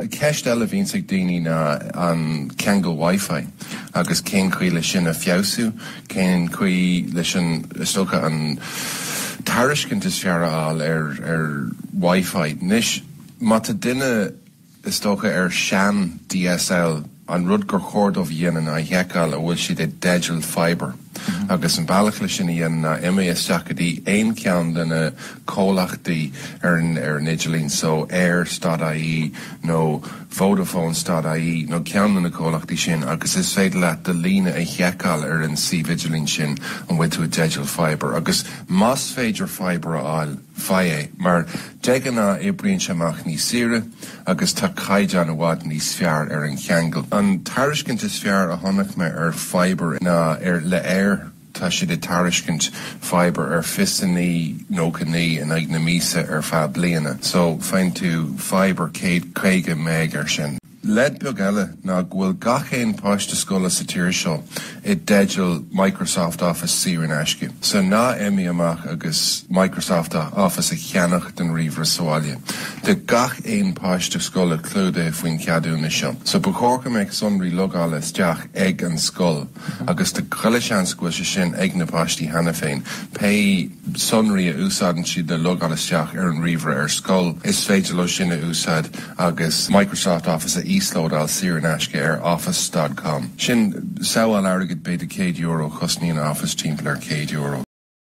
Ceist eile a bhíonns ag daoine ná an ceangal Wi-Fi agus cén chaoi leis sin a fheabhsú, cén chaoi leis sin is dócha an tairiscint is fearr a fháil ar ar Wi-Fi. Anois má tá duine is dócha ar shean DSL, An rud gur chóir dóibh a dhéanamh ná a sheiceáil an bhfuil siad i dteideal Fibre agus an bealach le sin a dhéanamh ná imigh isteach go dtí aon cheann de na comhlachtaí ar ar an idirlíon so, Eir stad ie nó Vodafone stad ie nó ceann de na comhlachtaí sin agus is féidir leat do líne a sheiceáil ar an suíomh idirlín sin an bhfuil tú i dteideal Fibre agus más féidir Fibre a fháil, faigh é mar de ghnáth oibríonn sé amach níos saoire. agus tá caighdeán i bhfad níos fearr ar an cheangal. An tairiscint is fearr a chonaic mé ar Fibre ná ar le Eir, tá siad ag tairiscint Fibre ar fiche a naoi 99 in aghaidh na míosa ar feadh bliana, so faigheann tú Fibre 150 Meg ar sin. Leid beag eile ná go bhfuil gach aon páiste scoile sa tír seo i dteideal Microsoft Office saor in aisce. So ná imigh amach agus Microsoft Office a cheannach don ríomhaire sa bhaile. Tá gach aon páiste scoile clúdaithe faoin cheadúnas seo. So ba chóir go mbeadh sonraí logála isteach ag an scoil agus tá chuile sheans go bhfuil sé sin ag na páistí cheana féin pé sonraí a úsáideann siad le logáil isteach ar an ríomhaire ar scoil, is féidir leo sin a úsáid agus Microsoft Office a íoslódáil saor in aisce ar office dot com. Sin sábháil airgid, b'fhéidir €100 a chosnaíonn Office, timpeall ar €100.